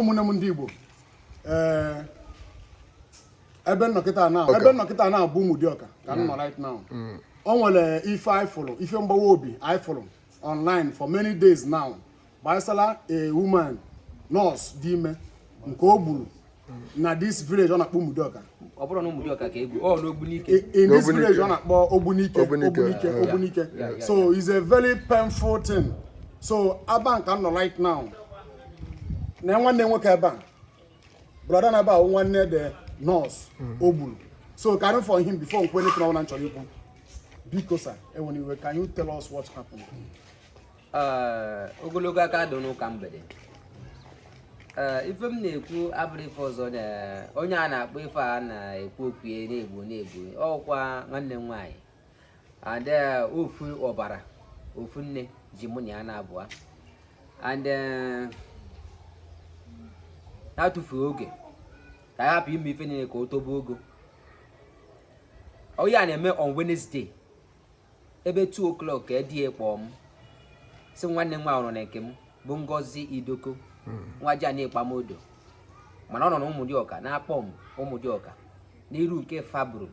ụmụnne m ndị Igbo ee ebe m nọ kịta na ebe m nọ kịta na-abụ Ụmụdịọka ka m nọ right now mm. o nwere ife anyị fụrụ ife mgbawa obi anyị fụrụ online for many days now gbasara a woman nurse dị ime nke o gburu na this village a na-akpọ Ụmụdịọka ọ bụrọ na Ụmụdịọka ka e gbu ọ n'Ogbunike in this village a na-akpọ Ogbunike Ogbunike Ogbunike so it's a very painful thing so ebe a ka m nọ right now na nwanne nwoke ebe a brother na ebe a nwanne the nurse hmm. o gburu so ka anyị hear from him before m kwuo anything ọbụla m chọrọ ikwu biko sir ewena iwe can you tell us what happened ogologo ụka adị n'ụka mgbede ife m na-ekwu abụrọ ife ọzọ na onye a na-akpọ ife a na-ekwu okwu ya na e gbu na e gbu ọ bụkwa nwanne m nwaanyị and eh, ofu ọbara ofu nne ji mụ na ya na abụọ and eh, na-atụfughị oge ka anyị hapụ ime ife niile ka o tobe ogo ife a na-eme on Wednesday ebe 2 o'clock ka di ya kpọọ m sị nwanne m nwaanyị ọ nọ na nke m bụ Ngozi Idoko hmm. nwa ji anyị Ikpamodo mana ọ nọ na Ụmụdịọka na Akpọm Ụmụdịọka n'iru nke Fabro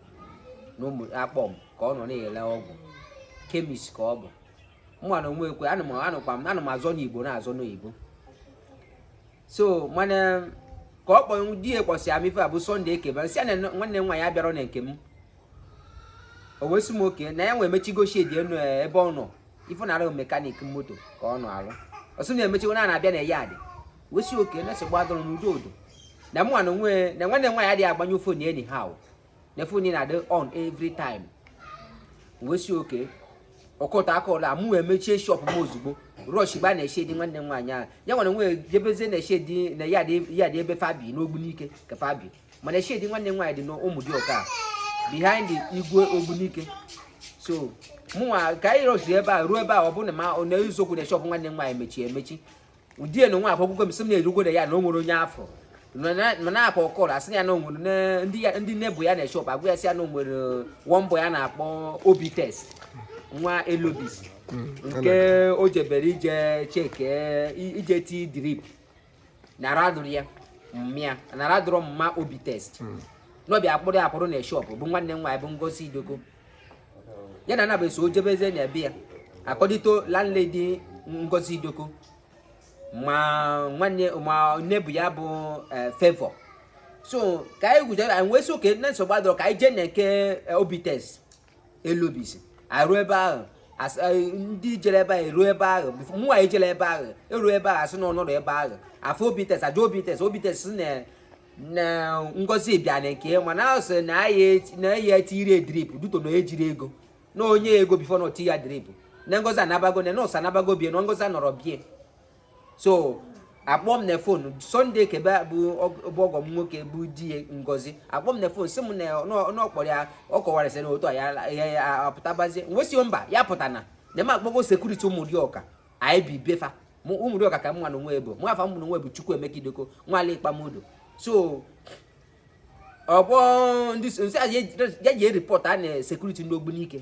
na ụmụ Akpọm ka ọ nọ na-ele ọgwụ chemist ka ọ bụ mụwa na onwe ekwe ana m anụkwa m ana m azọ n'Igbo na-azọ n'oyibo so mana ka ọ kpọọ di ya kpọsịa m ife a bụ Sunday Ekebe m sị na nwanne m nwaanyị abịarọ na nke m o wee sị m okay na ya nwa emechigo shed ya nụ eh, ebe ọ nọ ife na-arụ mechanic moto ka ọ nọ alụ ọ sị na emechigo na na-abịa na yard wee sị okay na nsogbu adịrọ n'udo udo na mụ na onwe na nwanne m nwaanyị adịghị agbanyụ phone anyhow na phone na-adị on every time wee sị okay ọ cut call a mụ emechie shop m ozugbo rush gbaa na shed nwanne m nwaanyị ahụ ya nwere nwe jebezie na shed na yard ebe fa bi n'Ogbunike ka fa bi mana shed nwanne m nwaanyị dị n'Ụmụdịọka behind Igwe Ogbunike so mụnwa ka anyị rushiri ebe a ruo ebe a ọ bụrụ na ma ọ eziokwu na shop nwanne m nwaanyị mechie emechi ọ di ya na onwe akwa akwụkwọ m sị m na erugo na yard na o nwere onye afọ ma na-akpa call sị ya na o nwere ndị neighbour ya na shop agwa ya sị ya na o nwere one boy a na-akpọ Obi Test nwa Elobis mm, nke o jebere ije check ije ti drip na a dụrụ ya mma na a dụrụ mma Obi Test mm. na ọ bịa kpọrọ kpọrọ na shop bụ nwanne m nwaanyị bụ Ngozi Idoko ya na anaba so o jebezi na be ya according to landlady Ngozi Idoko ma nwanne ma neighbour ya bụ eh, Favour so ka anyị kwuchaa anyị wee sị okay na nsogbu adịrọ ka anyị jee na nke eh, Obites Elobisi eruo ebe ahụ eh, ndị jere ebe ahụ eruo ebe ahụ mụnwa ejero ebe ahụ eruo ebe ahụ asị na ọ nọrọ ebe ahụ afụ Obites ajụọ Obites Obites na na ngozi bịa na nke mana asị na ya etirọ ya drip due to na ejirọ ego na o nye ego before na o tie ya drip na ngozi anabago na nọọsụ anabago be ya na ngozi anọrọ be ya so akpọọ m na phone Sunday kebe bụ ọgọ m nwoke bụ di ngozi akpọọ m na phone sị m na ọ kpọrọ ya ọ kọwara sị na otu a ya apụtabazie m wee sị ya mba ya apụtana na m akpọgo security Ụmụdịọka anyị bi be fa Ụmụdịọka ka mụ na onwe m bi nwa afa mụ na onwe m bụ Chukwuemeka idoko nwa ala Ikpamodo so ọ bụ ndị m sị ya jee report a na security ndị ogbunike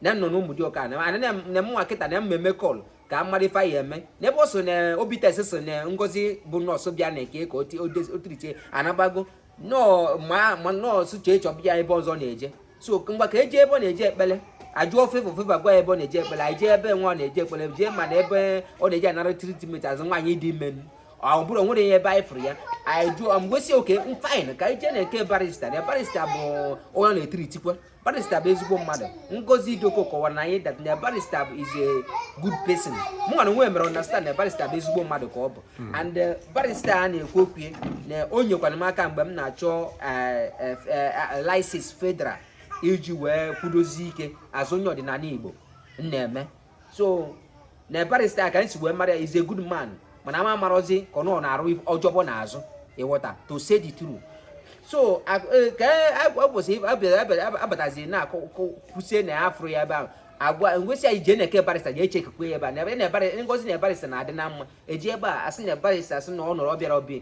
na m nọ n'Ụmụdịọka na mụnwa kịta na m na-eme call ka m mara ife a ya-eme n'ebe ọ sị na obites sị na ngozi bụ nọọsụ bịa na nke ka o treatie ya anabago nọọ ma ma nọọsụ jee chọba ya ebe ọzọ ọ na-eje so ngwa ka e jee ebe ọ na-eje ekpele ajụọ Favour Favour gwa ya ebe ọ na-eje ekpele anyị jee ebe nwa ọ na-eje ekpele jee mana ebe ọ na-eje anara treatment as nwaanyị dị ime ọ bụrụ enwerọ ebe anyị fụrụ ya anyị jụọ m wee sị okay fine ka anyị jee na nke barista na barista bụ onye ọ na-etreatikwa barista bụ ezigbo mmadụ ngozi idoko kọwara na anyị that na barista is a good person mụ na onwe m mere understand na barista bụ ezigbo mmadụ ka ọ bụ hmm. and eh, barista a na-ekwu okwu na o nyekwara m aka mgbe m na-achọ eh, eh, license federal iji wee kwudosie ike as onye ọdịnala igbo m na-eme so na barista ka m si wee mara ya is a good man mana m amarozi ka ọ na-arụ ọjọbọ n'azụ ị ghọta to say the truth so e, ka ụbọchị e, abatazi na kwusie na afụrọ ya ebe ahụ ngwa m wee sị anyị jee na nke barista jee checkikwaa ya ebe a ngozi na barista na-adị na mma ejee ebe ahụ asị na barista sị na ọ nọrọ ọ bịarọ be ya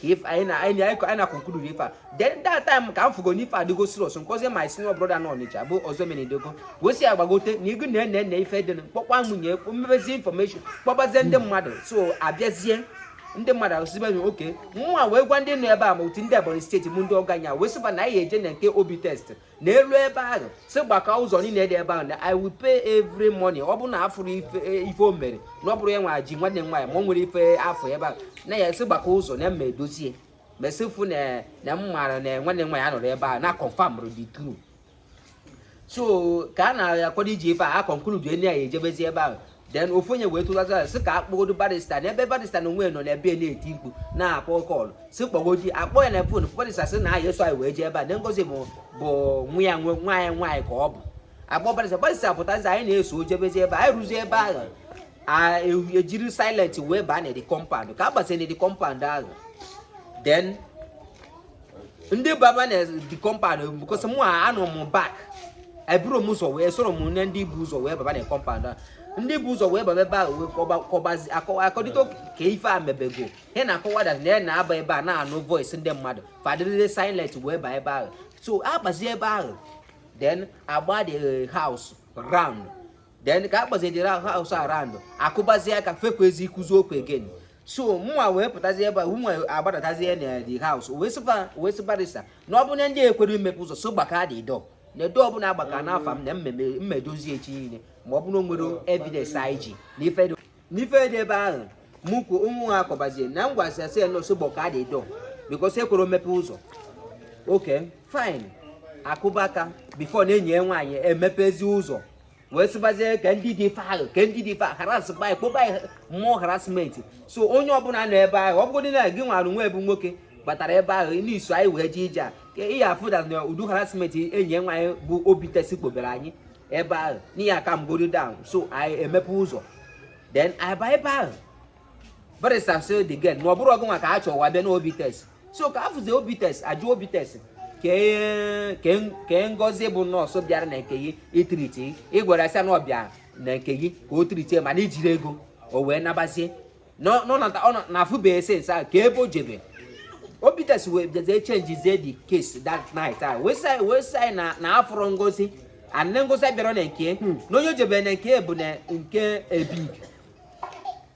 ka ife anyị na anyị anyị anyị na-aconclude ife a then that time ka m fụgo na ife adịgo serious m kpọzie my senior brother na ọnịcha bụ Ọzọemena Idoko wee sị ya gbagote na igu na ene ife dị kpọkwa nwunye m mebezie information kpọbazie ndị mmadụ so abịazie ndị mmadụ asịba nye okay mụnwa wee gwa ndị nọ ebe a ma otu ndị Ebonyi State bụ ndị ọgọ anyị wee sịba na anyị eje na nke obites na elue ebe ahụ sị gbaka ụzọ niile dị ebe ahụ na i will pay every money ọ bụrụ na afụrọ ife e, o mere na ọ bụrọ ya nwa ji nwanne m nwaanyị ma o nwerọ ife afụ ebe ahụ na ya sị gbaka ụzọ na m ga-edozi mesifu na na m maara na nwanne m nwaanyị anọrọ ebe ahụ na confirm the truth so ka a na-akwado iji ife a aconclude anyị ejebezi ebe ahụ then ofu onye wee tụlazi ya sị ka a kpọgodo barista n'ebe barista na onwe nọ n'ebe na-eti mkpu na-akpọ call sị kpọgodi akpọ ya na phone barista sị na ya eso anyị wee jee ebe a na ngozi bụ bụ nwa ya nwe nwa ya nwaanyị ka ọ bụ akpọ barista barista pụtazi anyị na-eso jebezi ebe anyị ruzi ebe ahụ e, ejiri silent wee baa na the compound ka a gbasịrị the compound ahụ then ndị baba na the compound because mụ anọ m back eburo m ụzọ wee soro m nne ndị bu ụzọ wee baba na compound ndị bu ụzọ wee baba ebe a wee kọbazi according to ka ife a mebego he na-akọwa that na ya na-aba ebe a na-anụ voice ndị mmadụ fa dịrịrị silent wee baa ebe ahụ so agbazie ebe ahụ then agba the eh, house round then ka agbazie the house around akụbazie aka fa ekwezi ikwuzi okwu again so mụnwa wee pụtazi ebe a mụnwa agbadatazie na the house wee sịba wee sị barista na ọ bụ na ndị ekwero imepe ụzọ so gbaka the door na door ọbụla agbaka n'afọ m na mmedozi echi niile ma ọ bụrụ nwere evidence anyị ji n'ife dị ebe ahụ mụ kwuo ụmụ ha akọbazie na m gwasị asị ya na o so gbaka the door because ekwero mepe ụzọ okay fine a kụba aka before na enyi ya nwaanyị emepezi ụzọ wee sịbazie ka ndị dị ife ahụ ka ndị dị ife ahụ harassba anyị kpoba anyị more harassment so onye ọbụla nọ ebe ahụ ọ bụgodị na gị nwara nwa ebu nwoke batara ebe ahụ na i so anyị wee jee ije a ka ị ya afụ na na ụdị harassment enyi nwaanyị bụ obi test kpobere anyị ebe ahụ n'ihi a calm godo down so anyị emepe ụzọ then anyị baa ebe ahụ barista sị the girl na ọ bụrọ gị nwa ka a chọwa bịa na obi test so ka afụzi obi test ajụ obi test kee ngozi bụ nọọsụ bịara na nke gị itreat gị gwara asị na ọ bịa na nke gị ka o treatie mana i jiro ego o wee nabazie na afụbeghị since ahụ ka ebe o jebe obi test wee bịazie changezie the case that night a wee sị na afụrụ ngozi and ngozi bịara na nke hmm. na onye o jebere na nke bụ na nke ebig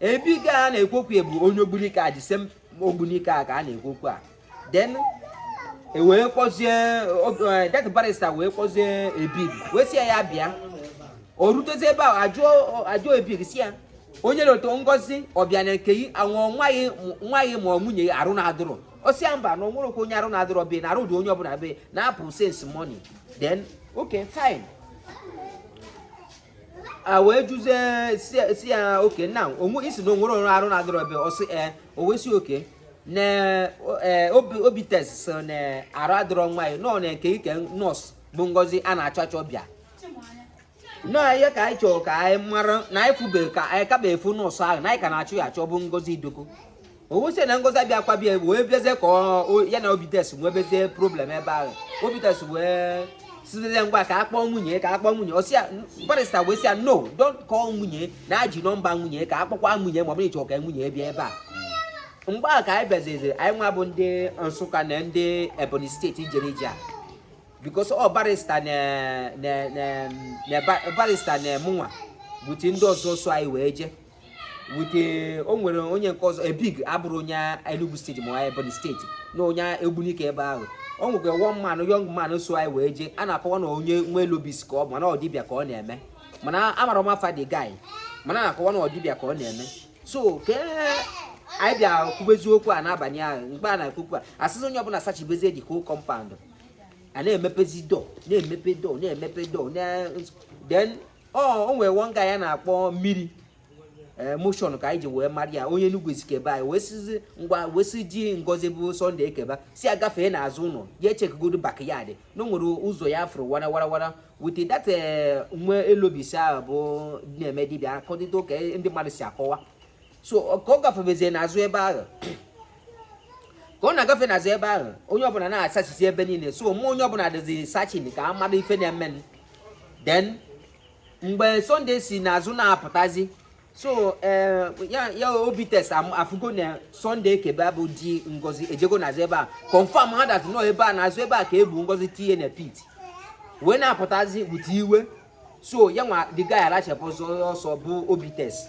ebig ka a na-ekwu okwu bụ onye ogbunike a this same ogbunike a ka a na-ekwu okwu a then e wee kpọzie eh, that barista wee kpọzie ebig wee sị ya ya bịa o rutezi ebe a ajụọ ebig sị ya onye na-eto ngozi ọ bịa na nke gị anwụọ nwa gị ma ọ nwunye ya arụ na-adịrọ ọ sị ya mba na o nwerọkwa onye arụ na-adịrọ be na arụ dị onye ọbụla be na-apụ since morning then okay fine a wee jụzie sị ya okay na onwe ị sị na o nwerọ onye arụ na-adịrọ be ọ sị e o wee sị okay na e, obi test sị na arụ adịrọ nwa ya nọ na nke gị ka nọọsụ bụ ngozi a na-achọ achọ bịa nọọ ihe ka anyị chọrọ ka anyị mara na anyị fụbe ka anyị kaba afụ nọọsụ ahụ na anyị ka na-achọ ya achọ bụ ngozi idoko owusie na ngozi abịa akwa bịa wee bịazie ka ya na obites nwebezie problem ebe ahụ obites wee sịzie ngwa ka a kpọọ nwunye ka a kpọọ nwunye ọsịa barista wee sị ya no don't call nwunye na e ji nọmba nwunye ka a kpọkwa nwunye ma ọ bụrụ ị chọ ka nwunye bịa ebe a mgbe a ka anyị bịaziziri anyị nwa bụ ndị nsụka na ndị ebonyi steeti jere ije a because ọ barista na barista na mụnwa both ndị ọzọ so anyị wee jee wute eh, o nwere onye nke ọzọ ebig abụrụ onye Enugu steeti ma onye Ebonyi steeti na onye Ogbunike ebe ahụ o nwekwa one man young man so anyị wee jee a na-akọwa na onye nwe elobis ka ọ bụ mana ọ dibịa ka ọ na-eme mana amara m afa the guy mana na-akọwa na ọdịbịa ka ọ na-eme so ka anyị bịa kwubezie okwu a n'abalị ahụ mgbe a na-ekwu okwu a a sịzị onye ọbụla sachibezie dị ka compound a na-emepezi door na-emepe door na-emepe door then o nwere one guy a na-akpọ mmiri eh, motion ka anyị ji wee mara ya onye Enugu Ezike be anyị wee sịzi ngwa wee sị di ngozi bụ Sunday ekeba sị ya gafee n'azụ ụlọ ya echekigodo backyard na o nwere ụzọ ya afụrụ wara wara wara with that eh, nwe elobis ahụ bụ na-eme dibịa according to ka ndị mmadụ si akọwa so ka ọ gafebezie n'azụ ebe ahụ ka ọ na-agafe n'azụ ebe ahụ onye ọbụla na-asachizi ebe niile so mụ onye ọbụla dịzi searching ka a mara ife na-eme then mgbe Sunday si n'azụ na-apụtazi so eh, ya obites afụgo na Sunday ekebe bụ di ngozi ejego n'azụ ebe a confirm ha that na ọ ebe a n'azụ ebe a ka e bu ngozi tinye na pit wee na-apụtazi bute iwe so ya nwa the guy arachapụ ọsọ ọsọ bụ obites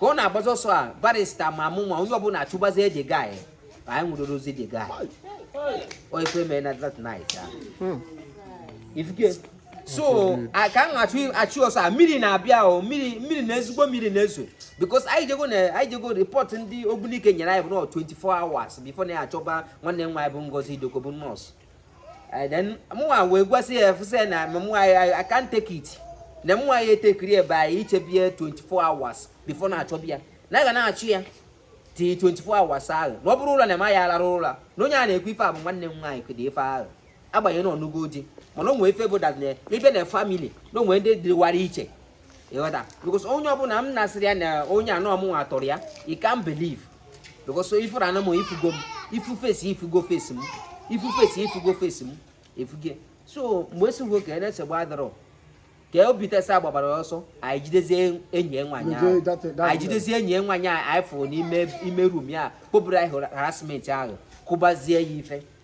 ka ọ na-agbazi ọsọ a barista ma mụ nwa onye ọbụla achụbazie the guy ka anyị nwụdozi the guy o ekwe mee na that night ah. Hmm. ifuke so a- ka m achụ achụ ọsọ a mmiri na-abịa o mmiri mmiri na ezigbo mmiri na-ezo because anyị jego na anyị jego report ndị ogbunike nyere anyị bụ na ọ 24 hours before na ya achọba nwanne m nwaanyị bụ ngozi idoko bụ nurse Eh, then mụnwa wee gwasị ya refuse na mụnwa I can't take it na mụnwa ya etekiri ebe anyị ichebie 24 hours before na-achọbi ya na ga na-achọ ya till 24 hours ahụ na ọ bụrụ ụlọ na ema ya alara ụlọ na onye a na-ekwu ife a bụ nwanne m nwaanyị kụdị ife ahụ agbanyeghị na ọ nụgo di mana o nwe ife bụ that na ibe na family na o nwe ndị dịwara iche ịghọta because onye ọbụla m na-asịrị ya na onye a na ọ mụnwa tọrọ ya you can't believe because ị fụrụnụ m ị fụgo m ifu face ị fụgo face m ifu face ị fụgo face m efuge so mgbe esigo ka na-esegbu adọrọ ka obites gbabara ọsọ anyị jidezie enyi nwaanyị ahụ anyị jidezie enyi nwaanyị ahụ anyị fụrụ n'ime ime room ya kpoburu anyị harassment ahụ kụbazie ya ife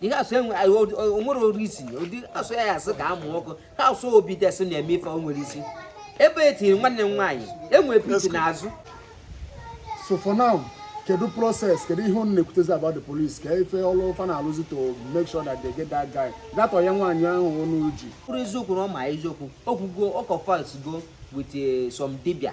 the house o nwerọ isi the house ya asị ka amụ ọkụ house obi desị na-eme ife o nwerọ isi ebe e tiri nwanne m nwaanyị e nwere pit n'azụ so for now kedu process kedu ihe unu na-ekwutezi about the police ka ife ọlụ fa na-alụzi to make sure that they get that guy that onye nwaanyị ahụ onu ji kwuru eziokwu na ọ ma eziokwu o kwugo ọ confessgo with eh, some dibia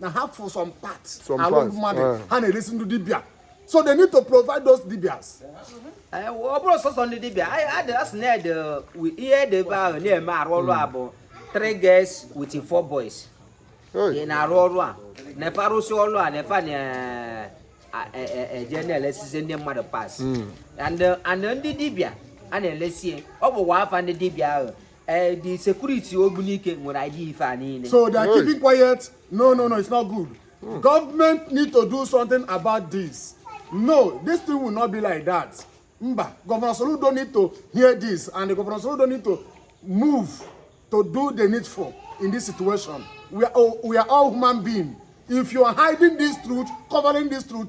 na ha fụ some part Some alụ parts, mmadụ eh. ha na-eresi ndị dibịa so they need to provide those dibias Ee, ọ bụrọ sọsọ ndị dibịa anyị adị asị na ede wi- ihe ede ebe ahụ na-eme arụ ọrụ a bụ three girls with four boys ị Hey, na-arụ ọrụ a na fa arụsị ọrụ a na fa a na- a- e- e- eje na-elesizi ndị mmadụ parts and and ndị dibịa a na-elesi ya. ọ bụkwa afa ndị dibịa ahụ ee eh, the security ogbunike nwere idea ife a niile so they are keeping quiet no no no it's not good hmm. government need to do something about this no this thing will not be like that mba governor soludo need to hear this and governor soludo need to move to do the needful in this situation we are, oh, we are all human beings if you are hiding this truth covering this truth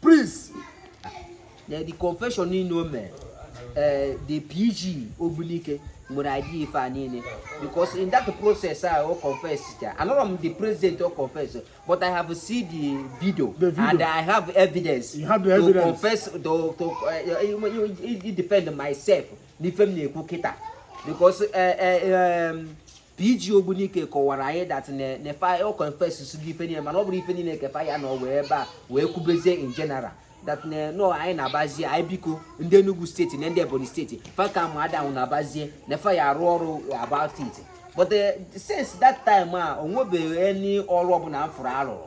Prince. na the confession niile o mere eh, the PG Ogbunike nwere idea ife a niile because in that process a o confess cha anọrọ m there present o confess but I have seen the video, The video. and I have evidence You have the to evidence. confess to to uh, defend myself n'ife m na-ekwu kịta because eh, eh, um, PG Ogbunike kọwara anyị that na fa o confessịgo ife niile mana ọ bụrọ ife niile ka fa ya na ọ wee ebe a wee kwubezie in general that na anyị na-abazie anyị biko ndị Enugu steeti na ndị Ebonyi steeti fa ka ma adanwụ na-abazie na fa ya-arụ ọrụ about it but eh, since that time a o nwebeghị any ọrụ ọ bụla m fụrụ a rụrụ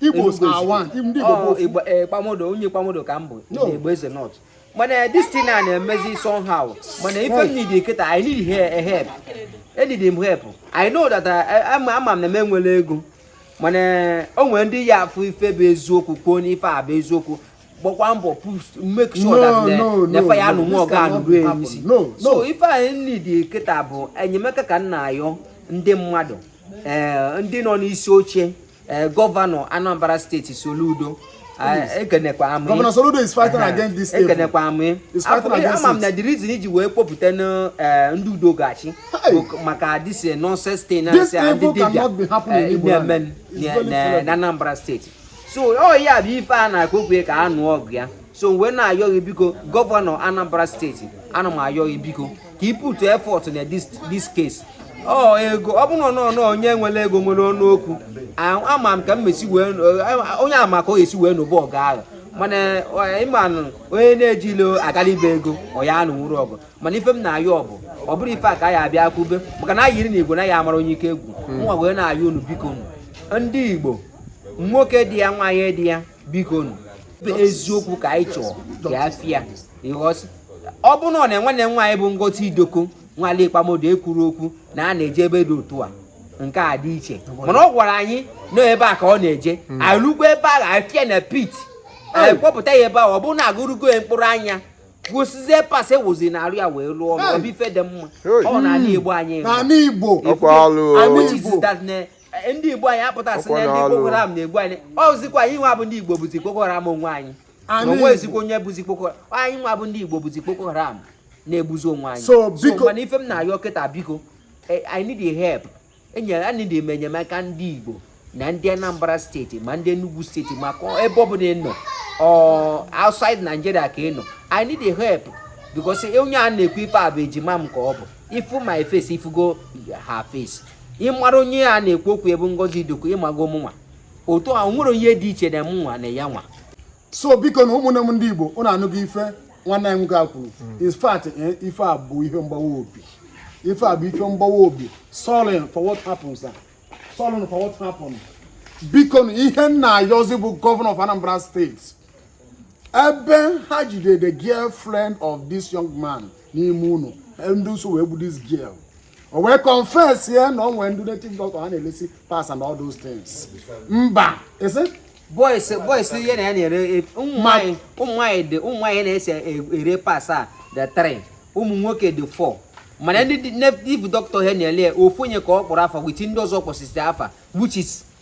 Igbos Igbo are Igbo. one. Ndị Igbo bụ Ọ, ofu. Igbo- eh, Kpamodo, onye Kpamodo ka m bụ No. ndị Igbo Eze North. mana this thing a na-emezi somehow mana ife m need kịta I need he- a help e need m help I know that I- ama ama m na m enwerọ ego mana o nwere ndị ya afụ ife bụ eziokwu kwuo n'ife a bụ eziokwu gbakwa mbọ push make sure that No, the- no, na no, fa ya no, anụ this nwa ọgụ a cannot anụ ruo happen. ya n'isi No, so no. ife anyị need kịta bụ enyemaka ka m na-ayọ ndị mmadụ ee ndị nọ n'isi oche Eh, gọvanọ Anambra steeti Soludo eh, ekenekwa m gị gọvanọ Soludo is fighting eh, against this ekenekwa m gị ama m na the reason i ji wee kpọpụta ndị Udo Ga-achị maka this nonsense thing na nsị ndị dibịa na-eme na Anambra steeti so ọ ya bụ ife a na-akụ okwu ka a nụọ ọgụ ya so wee na-ayọ gị biko gọvanọ Anambra steeti ana m ayọ gị biko ka i put effort na this this case ọ ego ọ bụrụ na onye nwere ego nwere ọnụ okwu ama m ka m mesi wee onye ama ka o esi wee nụba ọgụ ahụ mana ị manụ onye na-ejirọ agala ibe ego ọ ya anụnwurọ ọgụ mana ife m na-ayọ ọ bụ ọ bụrọ ife a ka ya abịa kwube maka na ayiri na Igbo na ya amara onye ike egwu nwa wee na-ayọ unu biko ndị Igbo nwoke dị ya nwaanyị dị ya biko eziokwu ka anyị chọọ ka ya fịa ọ bụ na nwanne nwaanyị bụ ngozi idoko nwale ikpamodo ekwuru okwu na a na-eje ebe dị otu a nke a dị iche mana ọ gwara anyị na ebe a ka ọ na-eje hmm. alụgbo ebe a ga-afịa na pit anyị kpọpụta ya ebe a ọ bụrụ na aghụrụgo ya mkpụrụ anya kwụsịzie parts ewuzi na arụ ya wee lụọ ọrụ ọ bụ ife dị mma ọ n'ala igbo anyị igbo e, ndị igbo anyị apụta sị na ndị boko haram na-egbu anyị ọzikwa anyị nwa bụ ndị igbo bụzi boko haram onwe anyị o nwezikwa onye bụzi boko haram anyị nwa bụ ndị igbo bụzi boko haram na-egbuzi onwe anyị so mana ife m na-ayọ kịta biko e, i need a help enyere i need em enyemaka ndị igbo na ndị anambra steeti ma ndị enugu steeti maka ebe ọ bụla ị nọ outside nigeria ka ị nọ i need a help because onye a na-ekwu ife a bụ ejima m ka ọ bụ ị fụ my face ị fụgo her face ị mara onye a na-ekwu okwu ebe ngozi idoko ị mago m nwa otu a enwerọ onye dị iche na m nwa na ya nwa so biko nu ụmụnne m ndị igbo ụnụ anụgo ife nwanne anyị nwoke a kwuru in fact eh, ife a bụ ihe mgbawa obi ife a bụ ife mgbawa obi sorry for what happens ah. sorry for what happens biko nu ihe m na-ayọzi bụ governor of anambra steeti ebe ha jidere the girlfriend of this young man n'ime ụlọ ndị so wee gbu this girl o wee confess ya na o nwere ndị native doctor ha na-elesi parts and all those things mba ese boys boys ihe na ya na-ere e, ụmụ nwanyị ụmụ nwanyị dị ụmụ nwanyị na-ese e, ere parts a dị three ụmụ nwoke dị four mana ndị native doctor ha na-ele ofu onye ka ọ kpọrọ afa with ndị ọzọ kpọsịsị afa which is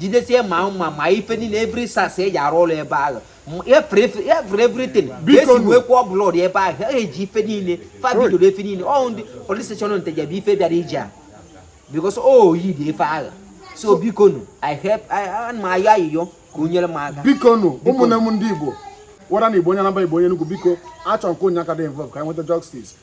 jidesie ma mma ma ife niile every sas eji arụ ụlọ ebe ahụ every everything esi wee kwụọ blood ebe ahụ ha eji ife niile fa jidoro ife niile ọ ndị police station nteje bụ ife bịara ije a because o oh, yi dị efe agha so biko nu i help ana m ayọ ayịyọ ka o nyere m aka biko nu ụmụnne m ndị igbo whether na ị bụ onye anambra ị bụ onye enugwu biko achọrọ m ka onye aka dị involve ka anyị nweta justice